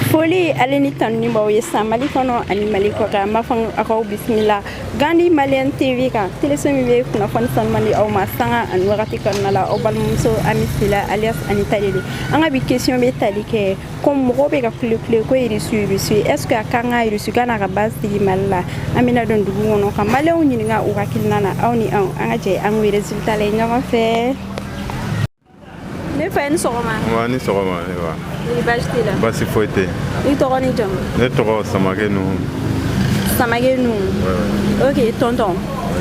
foli ale ni tanuni b'aw ye san mali kɔnɔ ani mali kɔkan n b'a fɔ aw k'aw bisimila gandi maliyɛn tv kan teleso min bɛ kunnafoni sanuman di aw ma sanga ani wagati kɔnɔna la aw balimamuso ami sila alias ani tale de an ka bi kesiyɔn bɛ tali kɛ ko mɔgɔw bɛ ka kulekule ko irisi irisi est ce que a ka kan irisi ka n'a ka base sigi mali la an bɛna don dugu kɔnɔ ka maliyɛnw ɲininka u hakilina na aw ni anw an ka jɛ an k'o resultat lajɛ ɲɔgɔn fɛ ne fa i ni sɔgɔma nba i ni sɔgɔma ne wa ni baasi t'i la baasi foyi tɛ i tɔgɔ ni jamu ne tɔgɔ samake nuhu samake nuhu ok tɔntɔn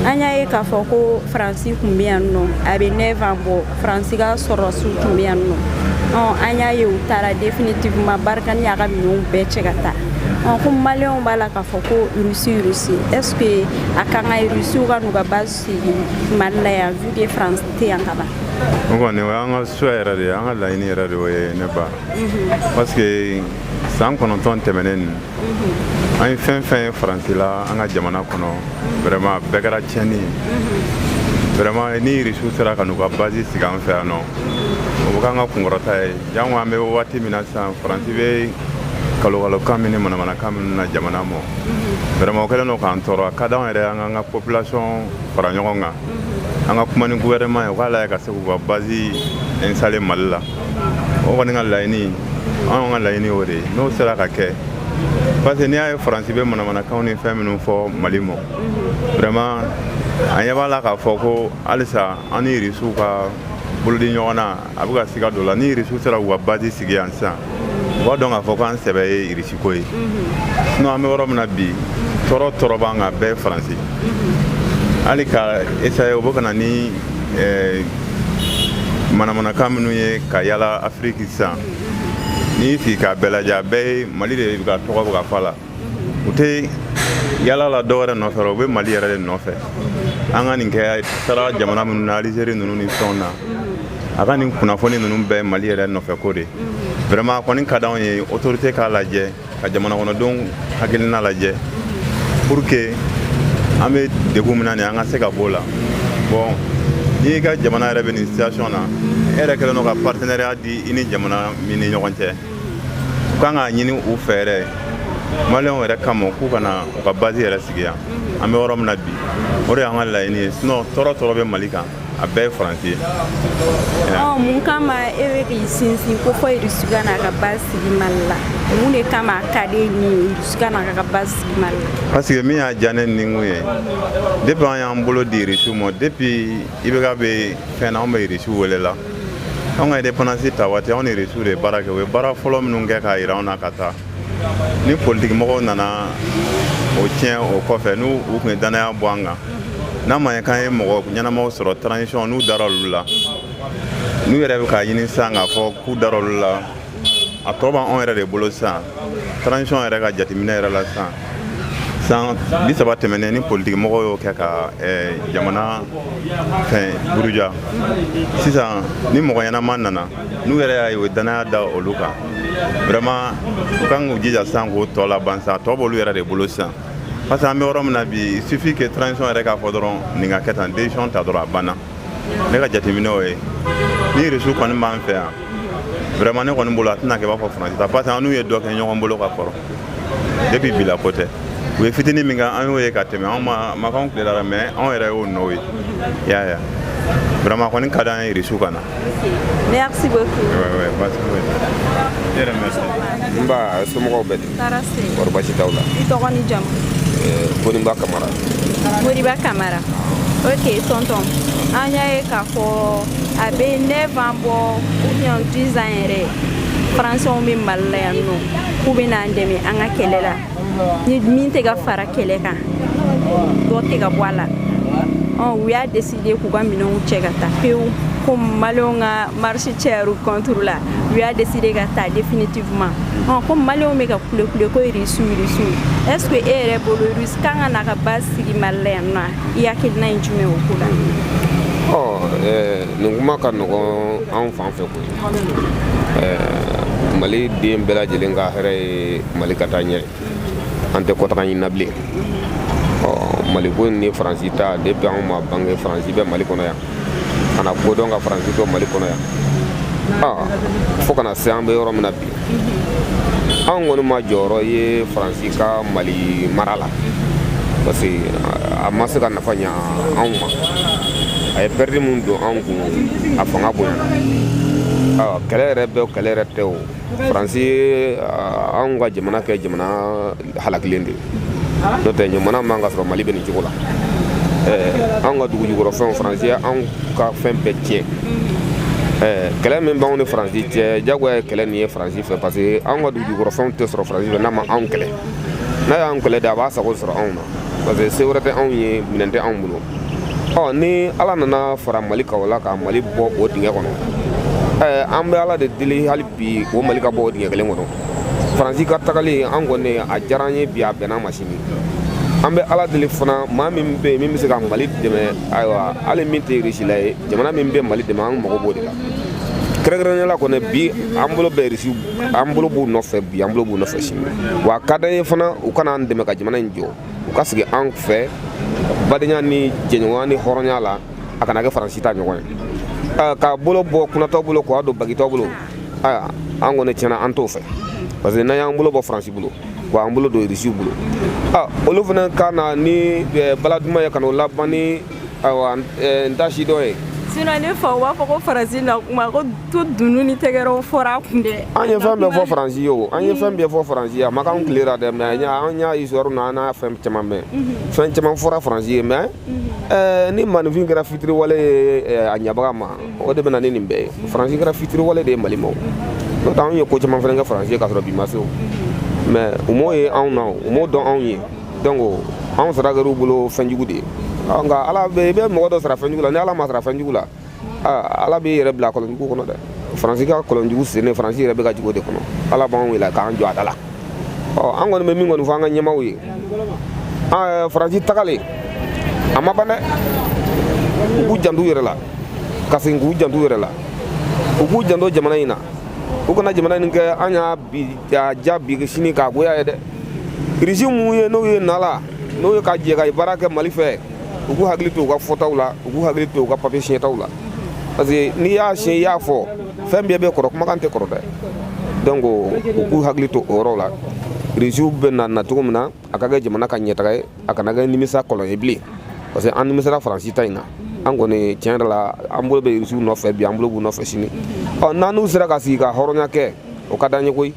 an y'a ye k'a fɔ ko faransi tun bɛ yan nɔ a bɛ neuf ans bɔ faransi ka sɔrɔdasiw tun bɛ yan nɔ an y'a ye u taara definitivement barkhane y'a ka minɛnw bɛɛ cɛ ka taa ko maliyɛnw b'a la k'a fɔ ko rusi rusi est ce que a ka kan rusiw ka n'u ka base Mali la yan vu que France tɛ yan ka ban. O kɔni o y'an ka souhait yɛrɛ de ye an ka laɲini yɛrɛ de y'o ye ne ba parce que san kɔnɔntɔn tɛmɛnen nin an ye fɛn fɛn ye faransi la an ka jamana kɔnɔ vraiment a bɛɛ kɛra tiɲɛni ye vraiment ni irisiw sera ka n'u ka base sigi an fɛ yan nɔ o bɛ k'an ka kunkɔrɔta ye janko an bɛ waati min na sisan faransi bɛ kalokalokan min ni manamanakan min na jamana mɔ vraiment o kɛlen don k'an tɔɔrɔ a ka d'an yɛrɛ an k'an ka population fara ɲɔgɔn kan an ka kuma ni gouvernement ye u k'a lajɛ ka se k'u ka base installer mali la o kɔni an ka laɲini anw ka laɲini o de ye n'o sera ka kɛ parce que n'i y'a ye faransi bɛ manamanakanw ni fɛn minnu fɔ mali mɔ vraiment an ɲɛ b'a la k'a fɔ ko halisa an ni irisiw ka bolodi ɲɔgɔn na a bɛ ka siga dɔ la ni irisiw sera k'u ka base sigi yan sisan u b'a dɔn k'a fɔ ko an sɛbɛ ye irisiko ye sinɔn an bɛ yɔrɔ min na bi tɔɔrɔ tɔɔrɔ b'an kan bɛɛ ye faransi hali ka essayer u bɛ ka na ni eh, manamanakan minnu ye ka yala afiriki sisan n'i y'i sigi k'a bɛɛ lajɛ a bɛɛ ye mali de bɛ ka tɔgɔ bɛ ka fɔ a la u tɛ yala la dɔ wɛrɛ nɔfɛ u bɛ mali yɛrɛ de nɔfɛ an ka nin kɛ taara jamana minnu na alizeri ninnu ni fɛnw na a ka nin kunnafoni ninnu bɛɛ mali yɛrɛ nɔfɛ ko de vraiment a kɔni ka d'an ye autorité k'a lajɛ ka jamana kɔnɔdenw hakilina lajɛ pour que an bɛ degun min na nin an ka se ka b'o la bon n'i ka jamana yɛrɛ bɛ nin situation na e yɛrɛ kɛlen don ka partenariat di i ni jamana min ni ɲɔgɔn cɛ u ka kan k'a ɲini u fɛ yɛrɛ maliyɛnw yɛrɛ kama k'u ka na u ka base yɛrɛ sigi yan an bɛ yɔrɔ min na bi o de y'an ka laɲini ye sinɔn tɔɔrɔ tɔɔrɔ bɛ mali kan a bɛɛ ye faransi ye mun kama e bɛ k'i sinsin k'a fɔ irisi ka n'a ka base sigi mali la mun de kama a ka di n ye irisi ka n'a ka base sigi mali la parce que min y'a diya ne nikun ye depuis an y'an bolo di irisiw ma depuis ibk bɛ fɛn na anw bɛ irisiw wele la anw ka indépendance ta waati anw ni irisi de baara kɛ u ye baara fɔlɔ minnu kɛ k'a yira anw na ka taa ni politikimɔgɔw nana o tiɲɛ o kɔfɛ ni u tun ye dannaya bɔ an kan n'a ma ye k'an ye mɔgɔ ɲɛnamaw sɔrɔ transition n'u dara olu la n'u yɛrɛ bɛ k'a ɲini sisan k'a fɔ k'u dara olu la a tɔ b'anw yɛrɛ de bolo sisan transition yɛrɛ ka jateminɛ yɛrɛ la sisan san bi saba tɛmɛnen ni politikimɔgɔ y'o kɛ ka eh, jamana fɛn buruja sisan ni mɔgɔ ɲɛnama nana n'u yɛrɛ y'a ye o dannaya da olu kan vraiment u kan k'u jija sisan k'o tɔ laban sisan a tɔ b'olu yɛrɛ de bolo sisan parce que an bɛ yɔrɔ min na bi il suffit que transition yɛrɛ k'a fɔ dɔrɔn nin ka kɛ tan decision ta dɔrɔn a banna ne ka jateminɛ o ye ni irisi kɔni b'an fɛ yan vraiment ne kɔni bolo a tɛna kɛ i b'a fɔ faransi ta parce que an n'u ye dɔ kɛ ɲɔgɔn bolo ka kɔrɔ depuis bi la ko tɛ u ye fitini min kɛ an y'o ye ka tɛmɛ anw mamakɛw tile la mais anw yɛrɛ y'o nɔw ye y'a ye vraiment kɔni ka d'an ye irisi ka na merci beaucoup ouais, ouais, merci. yɛrɛ merci nba somɔgɔw bɛ tɔɔrɔ tɛ kɔri basi t'aw la i tɔgɔ ni jamu Eh, koriba kamara koriba kamara ok tonton an y'a ye k'a fɔ a bɛ neuf ans bɔ ou bien dix ans yɛrɛ faransɛw bɛ mali la yan nɔ k'u bɛ n'an dɛmɛ an ka kɛlɛ la ni min tɛ ka fara kɛlɛ kan dɔ tɛ ka bɔ a la ɔ u y'a décidé de k'u ka minɛnw cɛ ka taa pewu ko maliyɛnw ka marche cayar'u contre la u y'a décidé ka taa définitivement ɔn ko maliyɛnw bɛ ka kulekule ko irisiw irisiw est ce que e yɛrɛ bolo irisi kan ka na ka base sigi mali la yan nɔ i hakilina ye jumɛn o ko la ɔ nin kuma ka nɔgɔn anw fan fɛ koyi maliden bɛɛ lajɛlen ka hɛrɛ ye mali ka taa ɲɛ ye an tɛ kɔtaga ɲini na bilen mali ko ni faransi ta depuis anw ma bange faransi bɛ mali kɔnɔ yan ka na ko dɔn ka faransi to mali kɔnɔ yan fo kana se an bɛ yɔrɔ min na bi anw kɔni ma jɔyɔrɔ ye faransi ka mali mara la parce que a ma se ka nafa ɲa anw ma a ye pɛridi min don anw kun a fanga bonyana kɛlɛ yɛrɛ bɛ kɛlɛ yɛrɛ tɛ o faransi y'anw ka jamana kɛ jamana halakilen de n'o tɛ ɲuman na man ka sɔrɔ mali bɛ nin cogo la anw ka dugu jukɔrɔ fɛnw faransi ye anw ka fɛn bɛɛ tiɲɛ kɛlɛ min b'anw ni faransi cɛ jagoya ye kɛlɛ nin ye faransi fɛ parce que anw ka dugu jukɔrɔ fɛnw tɛ sɔrɔ faransi fɛ n'a ma anw kɛlɛ n'a y'an kɛlɛ de a b'a sago sɔrɔ anw na parce que se wɛrɛ tɛ anw ye minɛn tɛ anw bolo ɔ ni ala nana fara mali kan o la ka mali bɔ o dingɛ kɔnɔ eh, an bɛ ala de deli hali bi o mali ka bɔ o dingɛ kelen kɔnɔ faransi ka tagali an kɔni a diyara an ye bi a bɛnn'an ma sini an bɛ ala deli fana maa min bɛ yen min bɛ se ka mali dɛmɛ ayiwa hali min tɛ irisila ye jamana min bɛ mali dɛmɛ an mago b'o de la kɛrɛnkɛrɛnnenya la kɔni bi an bolo bɛ irisi an bolo b'u nɔfɛ bi an bolo b'u nɔfɛ sini wa a ka d'an ye fana u ka na an dɛmɛ ka jamana in jɔ u ka sigi an fɛ badenya ni jɛɲɔgɔnya ni hɔrɔnya la a kana kɛ faransi ta ɲɔgɔn ye ka bolo bɔ kunatɔ bolo k'a don bagitɔ bolo ayi an kɔni tiɲɛ na an t'o fɛ parce que n'an y'an bolo bɔ faransi bolo k'an bolo don irisiw bolo olu fana ka na ni bala duman ye ka n'a laban ni ayiwa n ta si dɔ ye sinon ne faw b'a fɔ ko faransi na tuma ko to dunun ni tɛgɛrɛw fɔra a kun dɛ an ye fɛn bɛɛ fɔ faransi ye o an ye fɛn bɛɛ fɔ faransi ye a ma k'an tile la dɛ mais an y'a histoire na an n'a fɛn caman mɛn fɛn caman fɔra faransi ye mais ni maaninfin kɛra fitiriwale ye a ɲabaga ma o de bɛna ni nin bɛɛ ye faransi kɛra fitiriwale de ye mali ma o n'o tɛ anw ye ko caman fana kɛ faransi ye k'a sɔrɔ bi ma se o mais u m'o ye anw na o u m'o dɔn anw ye donc anw sara kɛr'u bolo fɛnjugu de ye nka ala bɛ i bɛ mɔgɔ dɔ sara fɛnjugu la ni ala m'a sara fɛnjugu la ala b'i yɛrɛ bila kɔlɔnjugu kɔnɔ dɛ faransi ka kɔlɔnjugu sennen faransi yɛrɛ bɛ ka jigin o de kɔnɔ ala b'an wele k'an jɔ a da la ɔ an kɔni bɛ min kɔni fɔ an ka ɲɛmaaw ye faransi tagalen a ma ban dɛ u k'u jant'u yɛrɛ la ka segin k'u jant'u yɛrɛ la u k'u janto jamana in na u kana jamana in kɛ an y'a diya bi sini k'a goya ye dɛ Risi minnu ye n'o ye nala n'o ye ka jɛ ka baara kɛ mali fɛ u k'u hakili to u ka fɔtaw la u k'u hakili to u ka papiye siɲɛtaw la parce que n'i y'a siɲɛ i y'a fɔ fɛn bɛɛ bɛ kɔrɔ kumakan tɛ kɔrɔ dɛ donc u k'u hakili to o yɔrɔ la risiw bɛ na na cogo min na a ka kɛ jamana ka ɲɛtaga ye a kana kɛ nimisa kɔlɔn ye bilen parce que an nimisara faransi ta in na an kɔni tiɲɛ yɛrɛ la an bolo bɛ risiw nɔfɛ bi an bolo b'u nɔfɛ sini ɔ n'an n'u sera ka sigi ka hɔrɔnya kɛ o ka d'an ye koyi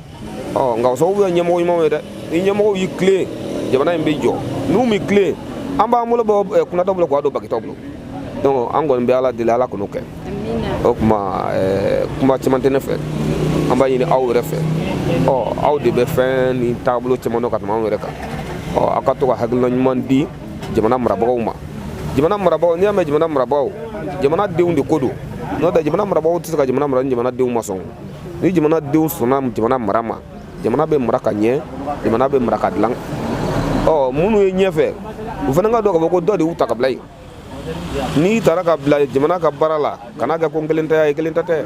ɔ nka o sababu bɛ ɲɛmɔgɔ ɲumanw ye dɛ ni ɲɛmɔgɔw y'i tilen jamana in bɛ jɔ n'u m'i tilen an b'an bolo bɔ kunatɔ bolo k'a don bagitɔ bolo donc an kɔni bɛ ala deli ala kan'o kɛ o tuma kuma caman tɛ ne fɛ an b'a ɲini aw yɛrɛ fɛ ɔ aw de bɛ fɛn ni taabolo caman dɔn ka tɛmɛ anw yɛrɛ kan ɔ aw ka to ka hakilina ɲuman di jamana marabagaw ma jamana marabagaw n'i y'a mɛn jamana marabagaw jamana denw de ko don n'o tɛ jamana marabagaw tɛ se ka jamana mara ni jamana denw ma sɔn ni jamana denw sɔnna jamana mara ma jamana bɛ mara ka ɲɛ jamana bɛ mara ka dilan ɔ minnu ye ɲɛfɛ u fana k'a dɔn k'a fɔ ko dɔ de y'u ta ka bila yen n'i tara ka bila jamana ka baara la kana kɛ ko n kelen ta ye e kelen ta tɛ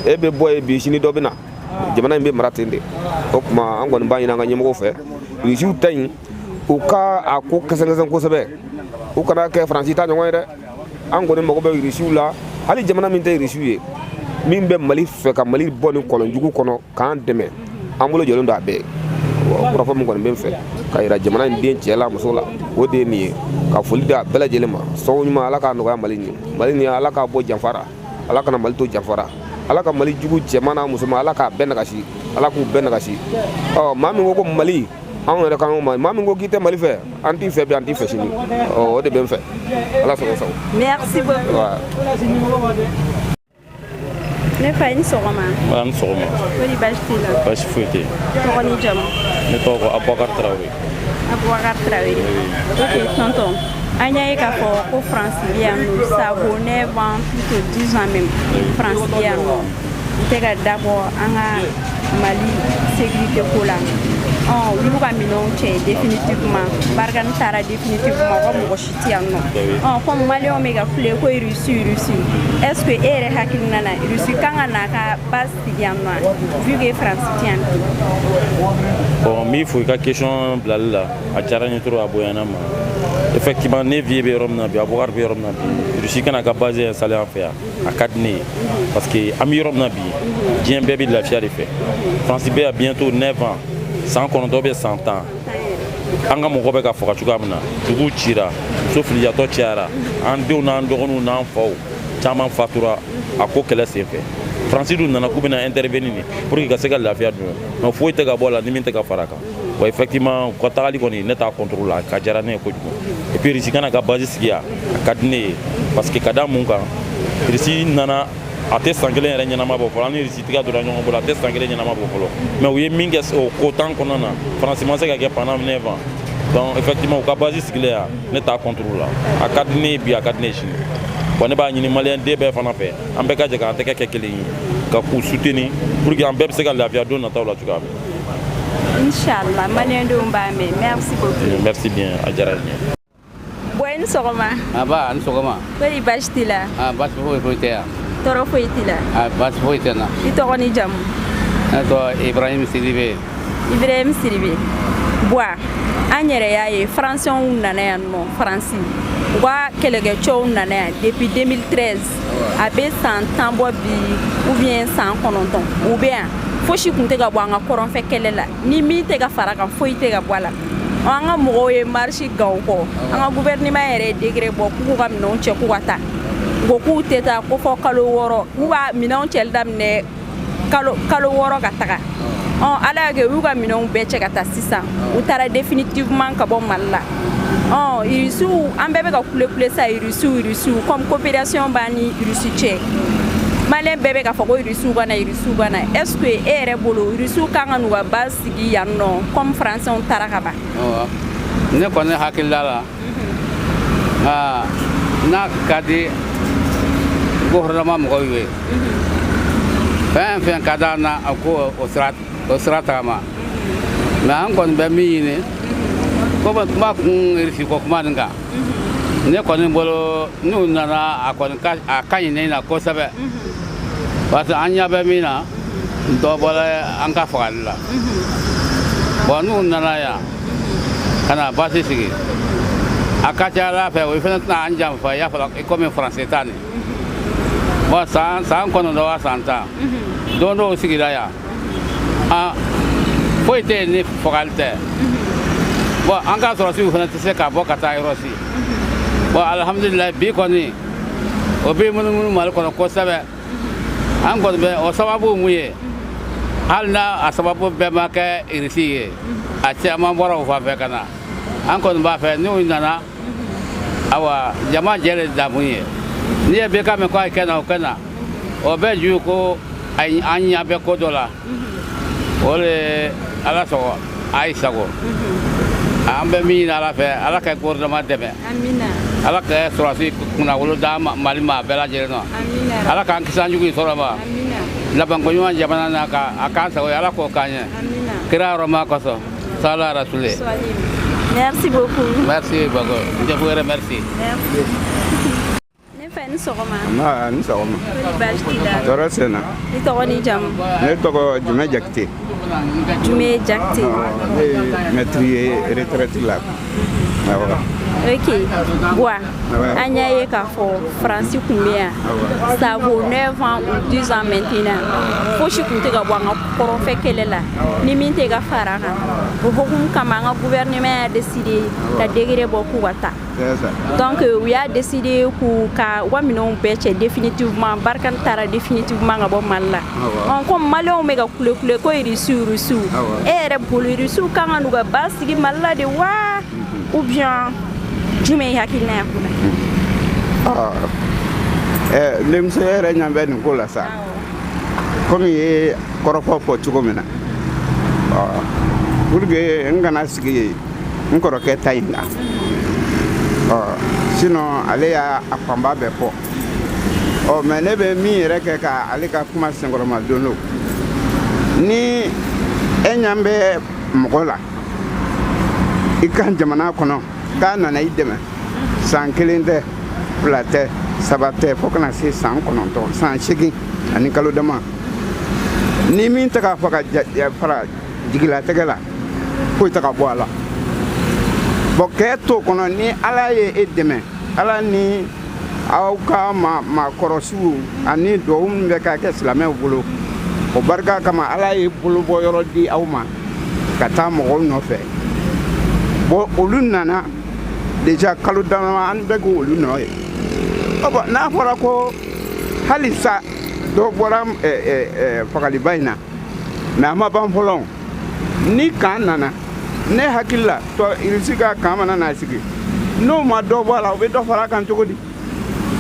e bɛ bɔ yen bi sini dɔ bɛ na jamana in bɛ mara ten de o tuma an kɔni b'a ɲini an ka ɲɛmɔgɔw fɛ rusiw ta in u ka a ko kɛsɛkɛsɛn kosɛbɛ u kana kɛ faransi ta ɲɔgɔn ye dɛ an kɔni mago bɛ irisiw la hali jamana min tɛ irisiw ye min bɛ mali fɛ ka mali bɔ nin kɔlɔnjugu kɔnɔ k'an dɛmɛ an bolo jɔlen don a bɛɛ kɔrɔfɔ min kɔni bɛ n fɛ k'a yira jamana in den cɛ la muso la o de ye nin ye ka foli di a bɛɛ lajɛlen ma sɔrɔ ɲuman ala k'a nɔgɔya mali nin mali nin ala k'a bɔ janfa ra ala kana mali to janfa ra ala ka mali jugu cɛman n'a musoman ala k'a bɛɛ nagasi ala k'u bɛɛ nagasi ɔ maa min ko ko mali anw yɛrɛ kan ma maa min ko k'i tɛ mali fɛ an t'i fɛ bi an t'i fɛ sini o de bɛ n fɛ ala sago aw sago merci beaucoup ne fa i ni sɔgɔma a ni sɔgɔma kori baasi t'i la baasi foyi tɛ tɔgɔ ni jamu ne tɔgɔ ko abubakar tarawele abubakar tarawele ok tonton an y'a ye k'a fɔ ko faransi bɛ yan nɔ ça vaut 9 ans plus que 10 ans même faransi bɛ yan nɔ n tɛ ka dabɔ an ka mali sécurité ko la ɔ olu ka minɛnw cɛ définitivement barikani taara définitivement fo mɔgɔ si tɛ yan nɔ ɔ comme maliyɛnw bɛ ka kule ko rusi rusi est ce que e yɛrɛ hakilina na rusi kan ka n'a ka base sigi yan nɔ vu que france tɛ yan bi bon n b'i fo i ka question bilali la a diyara n ye trop a bonyana n ma effectivement ne vie bɛ yɔrɔ min na bi abubakar bɛ yɔrɔ min na bi rusi ka na ka base installer an fɛ yan a ka di ne ye parce que an bɛ yɔrɔ min na bi diɲɛ bɛɛ bɛ lafiya de fɛ france bɛ yan bientôt 9 ans san kɔnɔntɔn bɛ san tan an ka mɔgɔ bɛ ka faga cogoya min na dugu cira muso filiyatɔ cayara an denw n'an dɔgɔninw n'an faw caman fatura a ko kɛlɛ sen fɛ faransi dun nana k'u bɛna intervenir de pour que ka se ka lafiya don mais foyi tɛ ka bɔ a la ni min tɛ ka fara kan wa effectivement u ka tagali kɔni ne t'a contre la a ko diyara ne ye kojugu et puis risi ka na ka base sigi yan a ka di ne ye parce que ka da mun kan risi nana a tɛ san kelen yɛrɛ ɲɛnama bɔ fɔlɔ an ni risi tɛgɛ donna ɲɔgɔn bolo a tɛ san kelen ɲɛnama bɔ fɔlɔ mais u ye min kɛ o kalo tan kɔnɔna na faransi ma se k'a kɛ pendant 9 ans donc effectivement u ka base sigilen yan ne t'a contre la a ka di ne ye bi a ka di ne ye sini wa ne b'a ɲini maliyɛn den bɛɛ fana fɛ an bɛɛ ka jɛ k'an tɛgɛ kɛ kelen ye ka k'u soutenir pour que an bɛɛ bɛ se ka lafiya don nataw la cogoya min incha allah ma leen doon mbaamee merci beaucoup. merci bien a diyara n ye. bwa i ni sɔgɔma. nba a ni sɔgɔma. kori baasi t'i la. a baasi foyi foyi tɛ yan. tɔɔrɔ foyi t'i la. a baasi foyi tɛ n na. i tɔgɔ ni jamu. ne tɔgɔ ibrahim sidibe. ibrahim sidibe. bwa an yɛrɛ y'a ye faransiyɛnw nana yan nɔ faransi u ka kɛlɛkɛcɛw nana yan depuis 2013. a bɛ san tan bɔ bi ou bien san kɔnɔntɔn u bɛ yan fosi tun tɛ ka bɔ an ka kɔrɔnfɛ kɛlɛ la ni min tɛ ka fara kan foyi tɛ ka bɔ a la an ka mɔgɔw ye marisi kɛ o kɔ an ka guvɛrɛnima yɛrɛ ye degere bɔ k'u k'u ka minɛnw cɛ k'u ka taa ko k'u tɛ taa ko fo kalo wɔɔrɔ k'u ka minɛnw cɛ daminɛ kalo kalo wɔɔrɔ ka taga ɔn ala y'a kɛ u y'u ka minɛnw bɛɛ cɛ ka taa sisan u taara définitivement ka bɔ mali la ɔn irisiw an bɛɛ bɛ ka kulekule sa irisiw irisiw comme coopération b'an ni irisi cɛ maliyɛn bɛɛ bɛ k'a fɔ ko irisiw ka na irisiw ka na est ce que e yɛrɛ bolo irisiw kan ka n'u ka base sigi yan nɔ comme français taara ka ban ne kɔni hakilila la aa n'a ka di gouvernement mɔgɔw ye fɛn o fɛn ka d'an na a ko o sira o sira tagama mais an kɔni bɛ min ɲini komi kuma kun irisi ko kuma nin kan ne kɔni bolo n'u nana a kɔni ka a ka ɲi ne na kosɛbɛ parce que an ɲɛ bɛ min na dɔ bɔra an ka fagali la bɔn n'u nana yan ka na basi sigi a ka ca ala fɛ o fana tɛna an janfa i y'a fɔ i komi faransi ta nin bɔn san san kɔnɔntɔn wa san tan don dɔw sigira yan an foyi tɛ yen ni fagali tɛ bɔn an ka sɔrɔsiw fana tɛ se ka bɔ ka taa yɔrɔ si bɔn alihamudulilayi bi kɔni o bɛ munumunu mali kɔnɔ kosɛbɛ an kɔni bɛ o sababu min ye hali n a sababu bɛɛ ma kɛ irisi ye a caman bɔra o fan fɛ ka na an kɔni b'a fɛ n'u nana awa jama jɛ de damu ye n'i ye bɛɛ kan mɛn ko a ye kɛ na o kɛ na o bɛɛ ju ko an ɲɛ bɛ ko dɔ la o de ala sago aw sago an bɛ min ɲini ala fɛ ala ka gouvernement dɛmɛ ala ka sɔrɔsi kunnawolo da mali ma a bɛɛ lajɛlen na ala k'an kisi an jugu in sɔrɔ ma labanko ɲuman jamana na ka a k'an sago ye ala k'o k'an ye kira hɔrɔma kosɔn sala rasule merci beaucoup merci beaucoup je vous remercie Ne fa i ni sɔgɔma ni sɔgɔma tɔɔrɔ tɛ n na i tɔgɔ n'i jamu ne tɔgɔ jumɛn jakite jumɛn jakite mɛtiri ye retraite la ok bua an y'a ye k'a fɔ faransi tun bɛ yan ça vaut 9 ans ou 10 ans maintenant fosi tun tɛ ka bɔ an ka kɔrɔnfɛ kɛlɛ la ni min tɛ ka fara kan o hokumu kama an ka gouvernement y'a décidé ka décret bɔ k'u ka taa Donc euh, u y'a décidé k'u ka u ka minɛnw bɛɛ cɛ définitivement Barkhane taara définitivement ka bɔ Mali la ah ɔ comme maliyɛnw bɛ ka kule kule ko irisiw irisiw e ah yɛrɛ bolo irisiw ka kan n'u ka base sigi Mali la de wa mhm. ou bien jumɛn ye i hakilina ye ko la ah. eh, denmuso yɛrɛ ɲɛ bɛ nin ko la sa komi i ye kɔrɔfɔ fɔ cogo min na pour que n kana sigi yen n kɔrɔkɛ ta in kan ɔ sinɔn ale y'a fanba bɛɛ fɔ ɔ mɛ ne bɛ min yɛrɛ kɛ ka ale ka kuma senkɔrɔmadon don ni e ɲan bɛ mɔgɔ la i ka jamana kɔnɔ k'a nana i dɛmɛ san kelen tɛ fila tɛ saba tɛ fo ka na se san kɔnɔntɔn san seegin ani kalo dama ni min tɛ k'a fɔ ka fara jigilatigɛ la foyi tɛ ka bɔ a la bɔn k'e to kɔnɔ ni ala ye e dɛmɛ ala ni aw ka maakɔrɔsiw ani duwawu min bɛ ka kɛ silamɛw bolo o barika kama ala ye bolobɔ yɔrɔ di aw ma ka taa mɔgɔw nɔfɛ bɔn olu nana deja kalo dama an bɛ k'olu nɔ ye n'a fɔra ko halisa dɔ bɔra fagaliba in na mɛ a ma ban fɔlɔ ni kan nana ne hakili la tɔ irisi ka kan mana na sigi n'o ma dɔ bɔ a la o bɛ dɔ fara a kan cogo di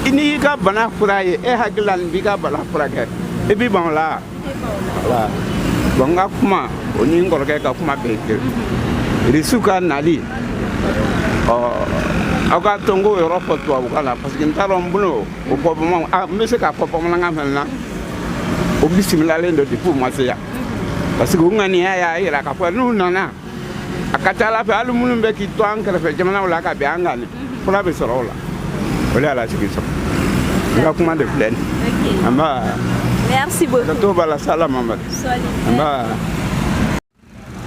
i n'i y'i ka bana fura ye e hakili la nin b'i ka bana furakɛ i b'i ban o la wa bɔn n ka kuma o ni n kɔrɔkɛ ka kuma bɛɛ kelen irisiw ka nali ɔ aw ka to n k'o yɔrɔ fɔ tubabukan na parce que n t'a dɔn n bolo o fɔ bamanan ah, n bɛ se k'a fɔ bamanankan fana na o bisimilalen don depuis u ma se yan parce que u ŋaniya y'a yira k'a fɔ n'u nana a ka ca ala fɛ hali minnu bɛ k'i to an kɛrɛfɛ jamanaw la ka bin an kan fura bɛ sɔrɔ o la o de y'a lasigi sɔrɔ i ka kuma de filɛ nin anba merci beaucoup ka to b'a la sala mamadu anba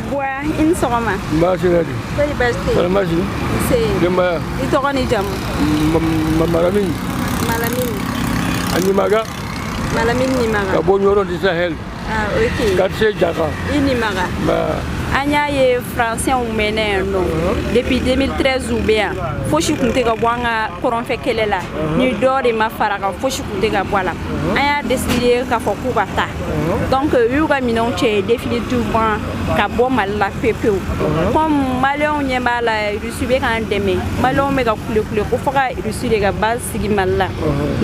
Buwa i ni sɔgɔma baasi tɛ di seli baasi tɛ yen baasi nse denbaya i tɔgɔ ni jamu malamin malamin a nimaga malamin nimaga ka bɔ ɲɔrɔ du sahel ah ok quartier jaka i nimaga an y'a ye fransɛnw mɛnna yan nɔ depuis 2013 u bɛ yan fosi tun tɛ ka bɔ an ka kɔrɔnfɛ kɛlɛ la ni dɔ de ma fara a kan fosi tun tɛ ka bɔ a la an y'a deside k'a fɔ k'u ka taa donc u y'u ka minɛnw cɛ définitivement ka bɔ mali la pewu pewu comme maliyɛnw ɲɛ b'a la rusi bɛ k'an dɛmɛ maliyɛnw bɛ ka kulekule ko fo ka rusi de ka base sigi mali la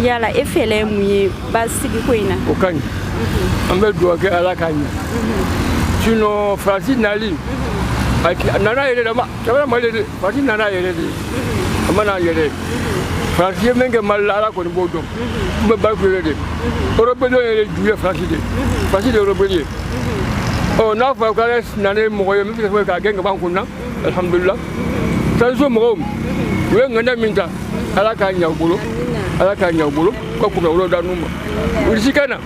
yala e fɛlɛ ye mun ye base sigi ko in na o ka ɲi an bɛ dugawu kɛ ala k'a ɲɛ sinon faransi nali a nana yɛrɛ de a ma na yɛrɛ faransi ye min kɛ mali la ala kɔni b'o dɔn n bɛ bari kulele de rebɛliya ju ye faransi de faransi de ye rebɛli ye ɔ n'a fɔra k'ala nana ni mɔgɔ ye min bɛ se ka k'a gɛn ka bɔ an kun na alihamudulila transition mɔgɔw u ye ŋaniya min ta ala k'a ɲa u bolo ala k'a ɲa u bolo ka kunnawolo d'anw ma rusi ka na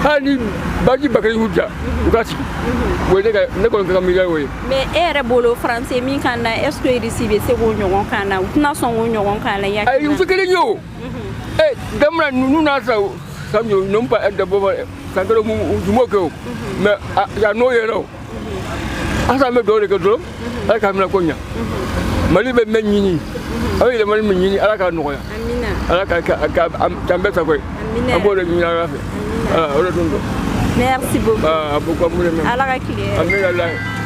hali ni bazi ba ka di u ye u k'a sigi o ye ne ka ne kɔni ka ka miiriya y'o ye mais e yɛrɛ bolo faransi ye min k'an na est ce que irisi bɛ se k'o ɲɔgɔn k'an na u tɛna sɔn k'o ɲɔgɔn k'an na i ayi hakilina u tɛ kelen ye o ee jamana ninnu n'a sa san ninnu ba da bɔ san kelen u jumo kɛ o mɛ yan n'o yɛrɛ o an san bɛ dugawu de kɛ dɔrɔn ala k'a minɛ ko ɲa mali bɛ min ɲini aw yɛlɛmani min ɲini ala k'a nɔgɔya ala k'a k'an bɛɛ sago ye an b'o de ɲini ala fɛ voilà o de tun don merci beaucoup ala ka tile hɛrɛ amina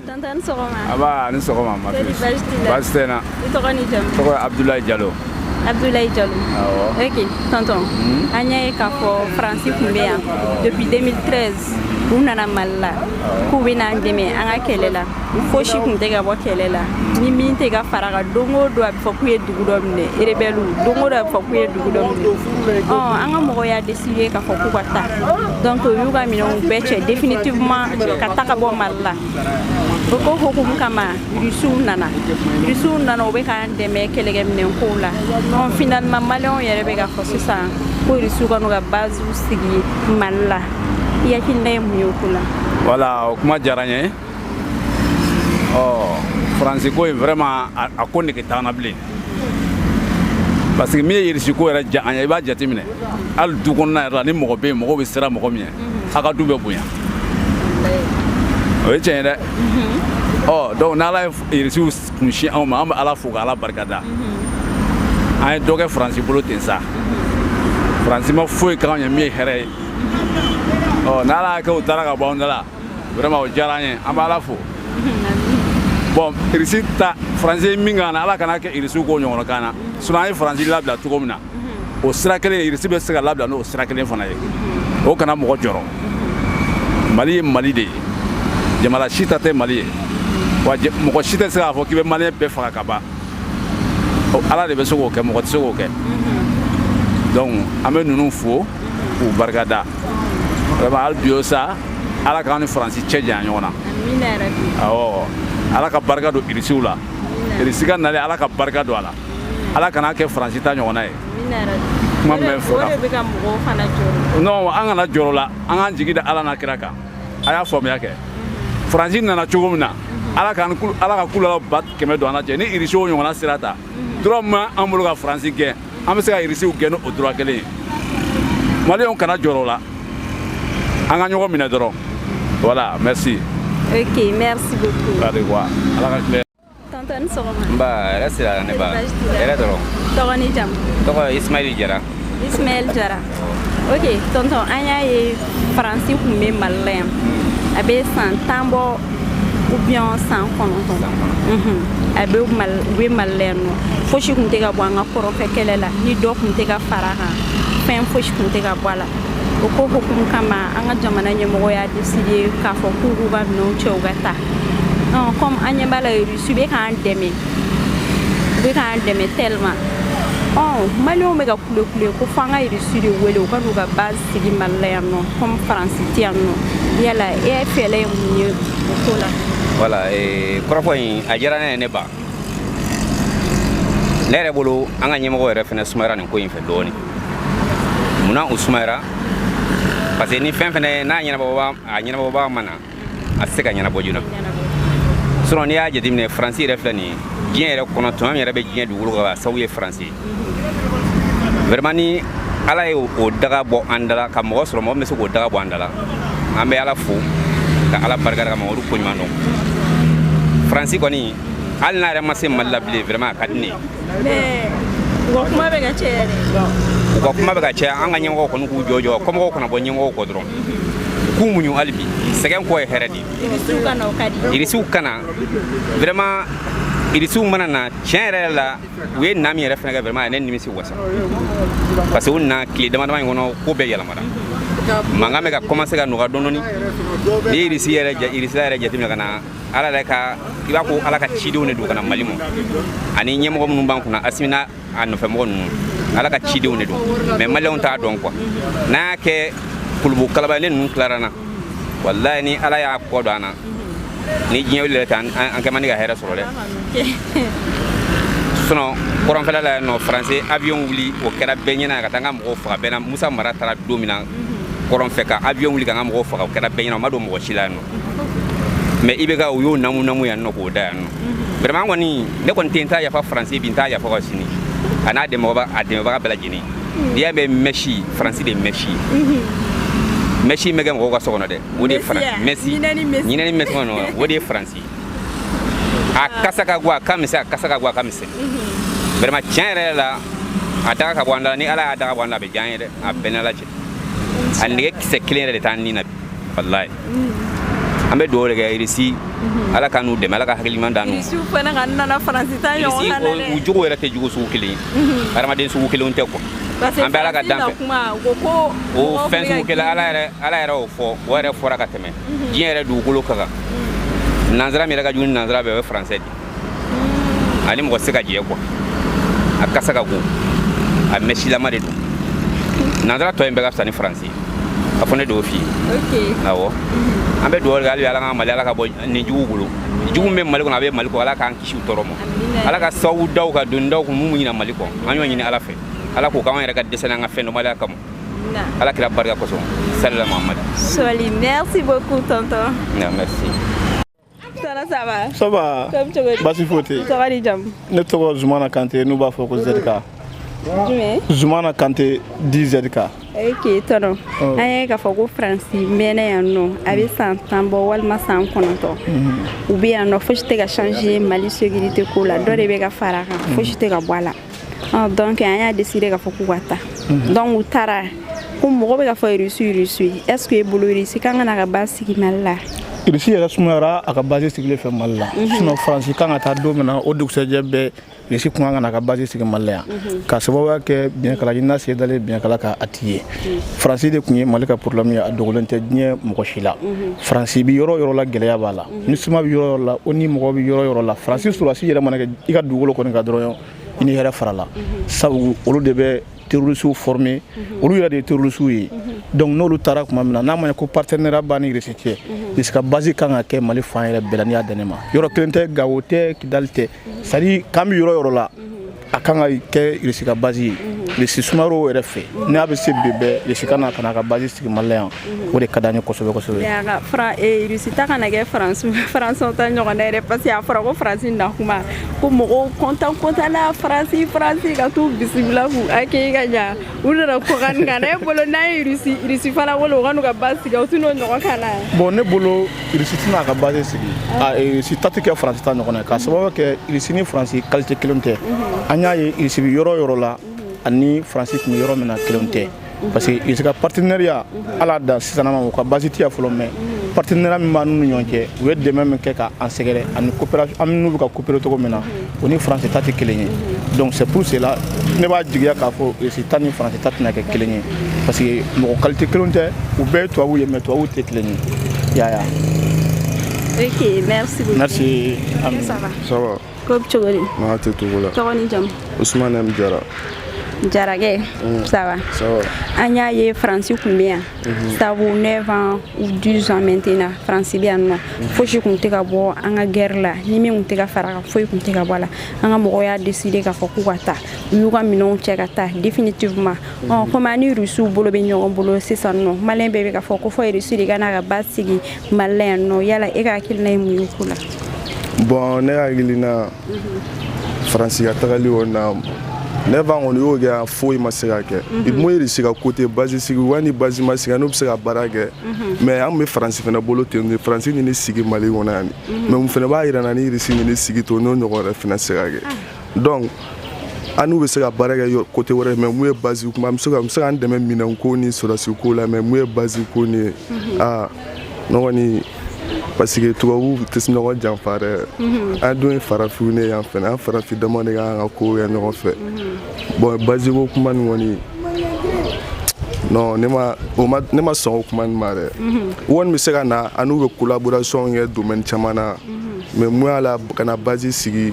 Tonton i ni sɔgɔma. Nba a ni sɔgɔma ma fille. Baasi t'i la. Baasi tɛ n na. I tɔgɔ ni jamu. Tɔgɔ ye Abudulayi Jalo. Abdoulaye Diallo. Awɔ. Ok, tonton. Hmm? An y'a ye k'a fɔ Faransi tun bɛ yan depuis 2013 u nana Mali la k'u bɛ n'an dɛmɛ an ka kɛlɛ la fosi tun tɛ ka bɔ kɛlɛ la ni min tɛ ka fara a kan don o don a bɛ fɔ k'u ye dugu dɔ minɛ rebɛliw don o don a bɛ fɔ k'u ye dugu dɔ minɛ ɔ an ka mɔgɔw y'a décidé k'a fɔ k'u ka taa donc u y'u ka minɛnw bɛɛ cɛ définitivement ka taa ka bɔ mali la o ko hukumu kama rusiw nana rusiw nana u bɛ k'an dɛmɛ kɛlɛkɛminɛn kow la donc finalement maliyɛnw yɛrɛ bɛ k'a fɔ sisan ko rusiw ka n'u ka baziw sigi mali la i hakilina ye mun ye o ko la voilà o kuma diyara n ye ɔ faransi ko in vraiment a ko nege t'an na bilen parce que min ye irisi ko yɛrɛ diya an ye i b'a jateminɛ hali du kɔnɔna yɛrɛ la ni mɔgɔ bɛ yen mɔgɔw bɛ siran mɔgɔ min ɲɛ a ka du bɛ bonya o ye tiɲɛ ye dɛ ɔ donc n'ala ye irisiw kun sin anw ma an bɛ ala fo ka ala barika da an ye dɔ kɛ faransi bolo ten sa faransi ma foyi k'anw ye min ye hɛrɛ ye ɔ n'ala y'a kɛ u taara ka bɔ anw da la vraiment o diyara an ye an bɛ ala fo bon irisi ta faransi ye min k'an na ala kan'a kɛ irisiw k'o ɲɔgɔn k'an na sinon an ye faransi labila cogo min na o sira kelen irisi bɛ se ka labila n'o sira kelen fana ye o kana mɔgɔ jɔrɔ mali ye mali de ye jamana si ta tɛ mali ye wa mɔgɔ si tɛ se k'a fɔ k'i bɛ maliyɛn bɛɛ faga ka ban ala de bɛ se k'o kɛ mɔgɔ tɛ se k'o kɛ donc an bɛ ninnu fo k'u barika da biyo sa ala k'an ni faransi cɛ jan ɲɔgɔn na ala ka barika don irisiw la irisi ka nali ala ka barika don a la ala kana kɛ faransi ta ɲɔgɔn ye kuma fɔ an kana jɔrɔ la an k'an jigi da ala n'a kira kan a y'a faamuya kɛ faransi nana cogo min na ala ka kulala ba kɛmɛ don an cɛ ni irisiw ɲɔgɔnna sira ta droit min b'an bolo ka faransi gɛn an bɛ se ka irisiw gɛn ni o droit kelen ye maliyɛnw kana jɔrɔ la an ka ɲɔgɔn minɛ dɔrɔn voilà merci ok merci beaucoup allez voir ala ka tɔntɔn i ni sɔgɔma nba hɛrɛ sira la ne ba Baasi t'i la. hɛrɛ dɔrɔn tɔgɔ ni jamu tɔgɔ ye ismaili jara ismaɛl jara ok tɔntɔn an y'a ye faransi kun bɛ mali la yan a bɛ san tan bɔ ou bien san kɔnɔntɔn Mhm. a bɛ Mali- u bɛ mali la yan nɔ fosi kun tɛ ka bɔ an ka kɔrɔnfɛ kɛlɛ la ni dɔ kun tɛ ka fara a kan fɛn fosi kun tɛ ka bɔ a la o ko hukumu kama an ka jamana ɲɛmɔgɔ y'a deside k'a fɔ k'u k'u ka minɛnw cɛ u ka taa comme an ɲɛ b'a la rusi bɛ k'an dɛmɛ u bɛ k'an dɛmɛ tellement maliyɛnw bɛ ka kule kule ko f'an ka rusi de wele u ka n'u ka base sigi mali la yan nɔ comme faransi tɛ yan nɔ yala e fɛla ye mun ye o ko la voilà kɔrɔfɔ in a diyara ne ye ne ba ne yɛrɛ bolo an ka ɲɛmɔgɔ yɛrɛ fana sumayara nin ko in fɛ dɔɔnin munna u sumayara parce que ni fɛn fɛnɛ n'a ɲɛnabɔbaa a ɲɛnabɔbaa ma na a tɛ se ka ɲɛnabɔ joona sɔrɔ n'i y'a jateminɛ faransi yɛrɛ filɛ nin ye diɲɛ yɛrɛ kɔnɔ tuma min yɛrɛ bɛ diɲɛ dugukolo kan sababu ye faransi ye vraiment ni ala ye o daga bɔ an dala ka mɔgɔ sɔrɔ mɔgɔ min bɛ se k'o daga bɔ an dala an bɛ ala fo ka ala barika da ka mamadu ko ɲuman dɔn faransi kɔni hali n'a yɛrɛ ma se mali la bilen vraiment a ka di ne ye u ka kuma bɛ ka caya an ka ɲɛmɔgɔw kɔni k'u jɔ jɔ kɔmɔgɔw kana bɔ ɲɛmɔgɔw kɔ dɔrɔn k'u muɲu hali bi sɛgɛn kɔ ye hɛrɛ de ye irisiw ka na vraiment irisiw mana na tiɲɛ yɛrɛ la u ye na min yɛrɛ fana kɛ vraiment a ye ne nimisi wasa parce que u na tile dama dama in kɔnɔ ko bɛɛ yɛlɛmara mankan bɛ ka commencer ka nɔgɔya dɔɔni dɔɔni n'i ye irisi yɛrɛ irisila yɛrɛ jateminɛ ka na ala yɛrɛ ka i b'a ko ala ka cidenw de don ka na mali ma ani ɲɛmɔgɔ minnu b'an kunna asimi n'a a nɔfɛ mɔgɔ ninnu ala ka cidenw de don mɛ maliyɛnw t'a dɔn kuwa n'a y'a kɛ kulubu kalaba ne ninnu tilara an na walayi ni ala y'a kɔ don an na ni diɲɛ wuli yɛrɛ tɛ an kɛ man di ka hɛrɛ sɔrɔ dɛ sinɔn kɔrɔnfɛla la yan nɔ faranse avion wuli o kɛra bɛɛ ɲɛna ka taa an ka mɔgɔw faga bɛɛ ɲɛna musa mara taara don min na kɔrɔnfɛ ka avion wuli ka an ka mɔgɔw faga o kɛra bɛɛ ɲɛna o ma dogo mɔgɔ si la yan nɔ mais i bɛ ka u y'o namu namu yan nɔ k'o da yan nɔ mhm. vraiment kɔni ne kɔni tɛ n t'a yafa faransi bi n t'a yafa ka sini a n'a dɛmɛbaga a dɛmɛbaga bɛɛ lajɛlen n'i y'a mɛn mɛsi faransi de mɛsi mɛsi bɛ kɛ mɔgɔw ka so kɔnɔ dɛ o de ye faransi mɛsi ɲinɛnin mɛsi kɔnɔ o de ye faransi a kasa ka go a ka misɛn a kasa ka go a ka misɛn vraiment tiɲɛ yɛrɛ la a daga ka bɔ an da la ni ala y'a daga bɔ an da a bɛ diya an ye dɛ a bɛ n n'ala cɛ a nege kisɛ kelen yɛrɛ de t'an ni na walayi an bɛ dugawu de kɛ irisi ala ka n'u dɛmɛ ala ka hakiliman dan n'u irisiw fana kana na faransi ta ɲɔgɔn na dɛ u jogo yɛrɛ tɛ jogo sugu kelen ye hadamaden sugu kelenw tɛ quoi an bɛ ala ka danfɛn o fɛn sugu kelen ala yɛrɛ ala yɛrɛ y'o fɔ o yɛrɛ fɔra ka tɛmɛ diɲɛ yɛrɛ dugukolo kɔ kan nansara min yɛrɛ ka jugu ni nansara bɛɛ o ye faransɛ de mm. a ni mɔgɔ se ka jɛ quoi a kasa ka go a mɛsilama de don nansara tɔ in bɛɛ ka fisa ni faransi ye a fɔ ne d'o f'i ye awɔ mm-hmm. an bɛ dugawu kɛ hali ala ka mali ala ka bɔ nin jugu bolo jugu bɛ mali kɔnɔ a bɛ mali kɔ ala k'an kisi u tɔɔrɔ ma ala ka sababu daw ka doni daw kun mun ɲina mali kɔ an y'o ɲini ala fɛ ala k'o k'an yɛrɛ ka dɛsɛ n'an ka fɛn dɔnbaliya kama ala kira barika kosɔn salila mahamadu soli merci beaucoup tonton merci Tana ça va ça va comme tu veux basi foyi tɛ ça va di jam ne tɔgɔ Zumana Kante n'u b'a fɔ ko ZK jumɛn Zumana Kante dit ZK ok tonton oh. an y'a ye k'a fɔ ko faransi mɛnna yan nɔ a bɛ san tan bɔ walima san kɔnɔntɔn mm-hmm. u bɛ yan nɔ fosi tɛ ka changer mali sécurité ko la dɔ de bɛ ka fara a kan fosi tɛ ka bɔ a la ah, donc an y'a décider k'a fɔ k'u ka taa mhm. donc u taara kɔ mɔgɔ bɛ ka fɔ irisi irisi est ce que e bolo irisi kan ka na ka base sigi mali la irisi yɛrɛ sumayara a ka base sigili fɛ mali la mhm. sinon faransi kan ka taa don min na o dugusɛjɛ bɛɛ irisi kun kan ka na ka base sigi mali la yan mhm. ka sababuya kɛ biɲɛkala ɲinina sen dalen biɲɛkala kan a ti ye mhm. faransi de tun ye mali ka problɛmu ye a dogolen tɛ diɲɛ mɔgɔ si la faransi bi yɔrɔ yɔrɔ la gɛlɛya b'a la ni suma bɛ yɔrɔ yɔrɔ la o ni mɔgɔ bɛ yɔrɔ yɔrɔ la faransi sɔrɔdasi yɛrɛ mana kɛ i ka dugukolo kɔni kan dɔrɔn i ni hɛrɛ farala sabu olu de bɛ terrorisiw former mhm. olu yɛrɛ de ye terrorisiw ye mhm. donc n'olu taara tuma min na n'a ma ko partenariat b'a ni Russie cɛ Russie mhm. ka base kan ka kɛ Mali fan yɛrɛ bɛɛ la n'i y'a dan ne ma yɔrɔ kelen tɛ Gawo tɛ Kidali tɛ c'est à dire k'an bɛ yɔrɔ yɔrɔ la a kan ka kɛ irisi ka basi ye irisi sumayara yɛrɛ fɛ n'a bɛ se bi bɛɛ irisi ka na ka na ka basi sigi mali yan o de ka di an ye kosɛbɛ kosɛbɛ irisi ta kana kɛ faransi faransi ta ɲɔgɔn dɛ yɛrɛ parce que a fɔra ko faransi na tuma ko mɔgɔw kɔntan kɔntan na faransi faransi ka t'u bisimila k'u hakili ka ɲa u nana kɔkan kan ne bolo n'an ye irisi irisi fana wele u ka n'u ka basi sigi u t'u n'o ɲɔgɔn kan na bɔn ne bolo irisi tɛna a ka base sigi ah. irisi ta tɛ kɛ faransi ta ɲɔgɔn ye k'a sababu kɛ irisi ni faransi kalite kelen tɛ mhm. an y'a ye irisi bɛ yɔrɔ yɔrɔ la mhm. ani faransi tun bɛ yɔrɔ min na kelen tɛ mhm. parce que irisi ka partenariat ala da sisanama u ka base tɛ yan fɔlɔ mais partenariat min b'an n'u ni ɲɔgɔn cɛ u ye dɛmɛ min kɛ k'an sɛgɛrɛ ani coopération an n'u bɛ ka coopérer cogo min na o ni faransi ta tɛ kelen ye donc c'est pour cela ne b'a jigiya k'a fɔ irisi ta ni faransi ta tɛna kɛ kelen ye parce que mɔgɔ kalite kelen tɛ u bɛɛ ye tubabu ye mais tubabu tɛ kelen ye yaya ok merci beaucoup merci ami ça va ça va ko bɛ cogo di n'a tɛ togo la tɔgɔ ni jamu usumane m jara jarakɛ ça va ça va an y'a ye faransi tun bɛ yan Mhm. sabu 9 ans ou 12 ans maintenant faransi bɛ yan nɔ mhm. fosi tun tɛ ka bɔ an ka gɛrɛ la ni min tun tɛ ka fara kan foyi tun tɛ ka bɔ a la an ka mɔgɔw y'a décider k'a fɔ k'u ka taa u y'u ka minɛnw cɛ ka taa définitivement mhm. ɔ komi an ni rusiw bolo bɛ ɲɔgɔn bolo sisan nɔ maliyɛn bɛɛ bɛ k'a fɔ ko fo rusi de ka n'a ka base sigi mali la yan nɔ yala e ka hakilina ye mun ye o ko la bon ne hakilina faransi ka tagali o na ne fan kɔni y'o kɛ foyi ma se ka kɛ mais irisi ka côté base sigi wa ni base ma sigi an n'u bɛ se ka baara kɛ mais an bɛ faransi fana bolo ten de faransi nana sigi mali kɔnɔ yan mais mun fana b'a yira an na ni irisi nana sigi to n'o ɲɔgɔn wɛrɛ fana se ka kɛ donc an n'u bɛ se ka baara kɛ côté wɛrɛ mais mun ye base kuma bɛ se ka an dɛmɛ minɛn ko ni sɔrɔdasi ko la mais mun ye base ko nin ye aa ne kɔni parce que tubabuw tɛ ɲɔgɔn janfa dɛ mhm. an dun ye farafinw de ye an fɛnɛ an farafin dama de ka kan ka kow kɛ ɲɔgɔn fɛ mhm. bon base ko kuma nin kɔni non ne ma o ma ne ma sɔn o kuma nin ma dɛ mhm. u kɔni bɛ se ka na an n'u bɛ collaboration kɛ domaine caman na mais mun y'a la ka na base sigi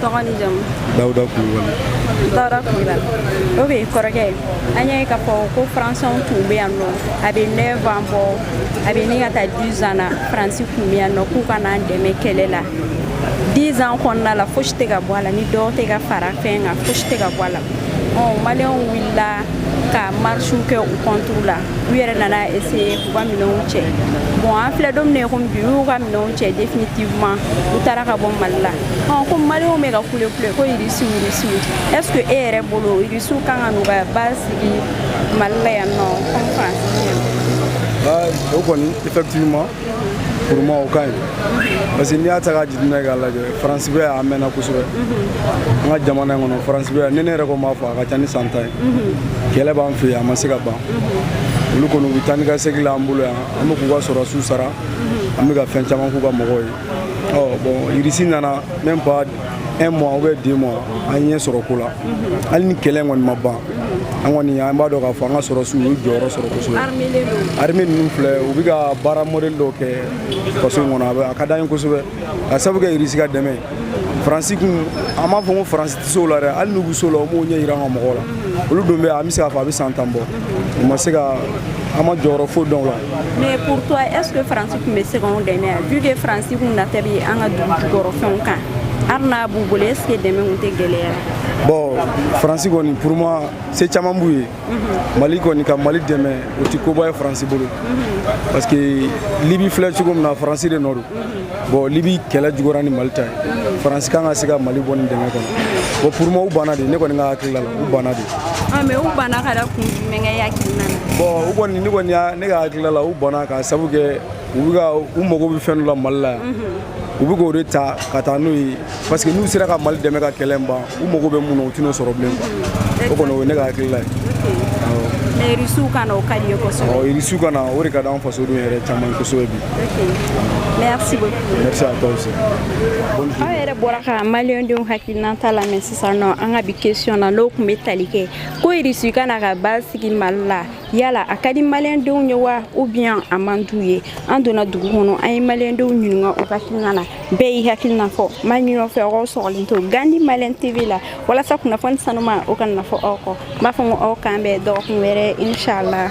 tɔgɔ ni jamu dawuda kulubali dawuda kulubali ok kɔrɔkɛ an y'a ye k'a fɔ ko faransɛw tun bɛ yan nɔ a bɛ neuf ans bɔ a bɛ ɲini ka taa dix ans na faransi tun bɛ yan nɔ k'u ka n'an dɛmɛ kɛlɛ la dix ans kɔnɔna la fosi tɛ ka bɔ a la ni dɔw tɛ ka fara fɛn kan fosi tɛ ka bɔ a la maliyɛnw wulila ka marisiw kɛ u contre la u yɛrɛ nana essayer k'u ka minɛnw cɛ bon an filɛ don min na komi bi u y'u ka minɛnw cɛ définitivement u taara ka bɔ mali la ko maliyɛnw bɛ ka kule kule ko irisiw irisiw est ce que e yɛrɛ bolo irisiw kan ka n'u ka base sigi mali la yan nɔ comme faransi o kɔni effectivement pour moi o ka ɲi parce que n'i y'a ta k'a jateminɛ k'a lajɛ faransi bɛ yan a mɛnna kosɛbɛ an ka jamana in kɔnɔ faransi bɛ yan ni ne yɛrɛ ko m'a fɔ a ka ca ni san tan ye kɛlɛ b'an fɛ yan a ma se ka ban olu kɔni u bɛ taa ni ka segin la an bolo yan an bɛ k'u ka sɔrɔdasiw sara an bɛ ka fɛn caman k'u ka mɔgɔw ye ɔ bon irisi nana même pas un mois ou bien deux mois an ɲɛ sɔrɔ ko la hali ni kɛlɛ kɔni ma ban an kɔni an b'a dɔn k'a fɔ an ka sɔrɔsiw y'u jɔyɔrɔ sɔrɔ kosɛbɛ armée ninnu filɛ u bɛ ka baara modèle dɔw kɛ faso in kɔnɔ a bɛ a ka d'an ye kosɛbɛ ka sabu kɛ irisi ka dɛmɛ faransi kɔni an m'a fɔ ko faransi tɛ se o la dɛ hali n'u bɛ se o la u m'o ɲɛ jira an ka mɔgɔw la olu don bɛ an bɛ se k'a fɔ a bɛ san tan bɔ u ma se ka an ma jɔyɔrɔ foyi dɔn o la Mais pour toi, est-ce que France tun bɛ se k'anw dɛmɛ yan vu que France tun nata bɛ an ka dugu jukɔrɔfɛnw kan hali n'a b'u bolo est ce que dɛmɛ tun tɛ gɛlɛya bon faransi kɔni pour moi se caman b'u ye mhm. mali kɔni ka mali dɛmɛ o tɛ koba ye faransi bolo mhm. parce que libi filɛ cogo min na faransi de nɔ don mhm. bon libi kɛlɛ juguyara ni mali ta ye faransi kan ka se ka mali bɔ ni dɛmɛ kɔnɔ bon pour moi u banna de ne kɔni ka hakilila la u banna de ah, mais u banna ka da kun jumɛn kan e hakilina na bon u kɔni ne kɔni y'a ne ka hakilila la u banna ka sabu kɛ u bɛ ka u mago bɛ fɛn dɔ la mali la yan mhm. u bɛ k'o de ta ka taa n'o ye parce que n'u sera ka mali dɛmɛ ka kɛlɛ ban u mago bɛ mun na u tɛn'o sɔrɔ bilen o kɔni o ye ne ka hakilila ye irisiw ka na o ka di n ye kosɛbɛ irisiw ka na o de ka d'an fasodenw yɛrɛ caman kosɛbɛ bi merci beaucoup merci à toi aussi aw yɛrɛ bɔra ka maliyɛndenw hakilinan ta lamɛn sisan nɔ an ka bi question na n'o tun bɛ tali kɛ ko irisiw ka na ka basigi mali la yala a ka di maliyɛndenw ye wa ou bien a man d'u ye an donna dugu kɔnɔ an ye maliyɛndenw ɲininka u ka hakilina na bɛɛ y'i hakilina fɔ ma ɲinɔ fɛ aw sɔgɔlen to gandi maliyɛn tv la walasa kunnafoni sanuma o kana fɔ aw kɔ n b'a fɔ ko aw k'an bɛn dɔgɔkun wɛrɛ inchallah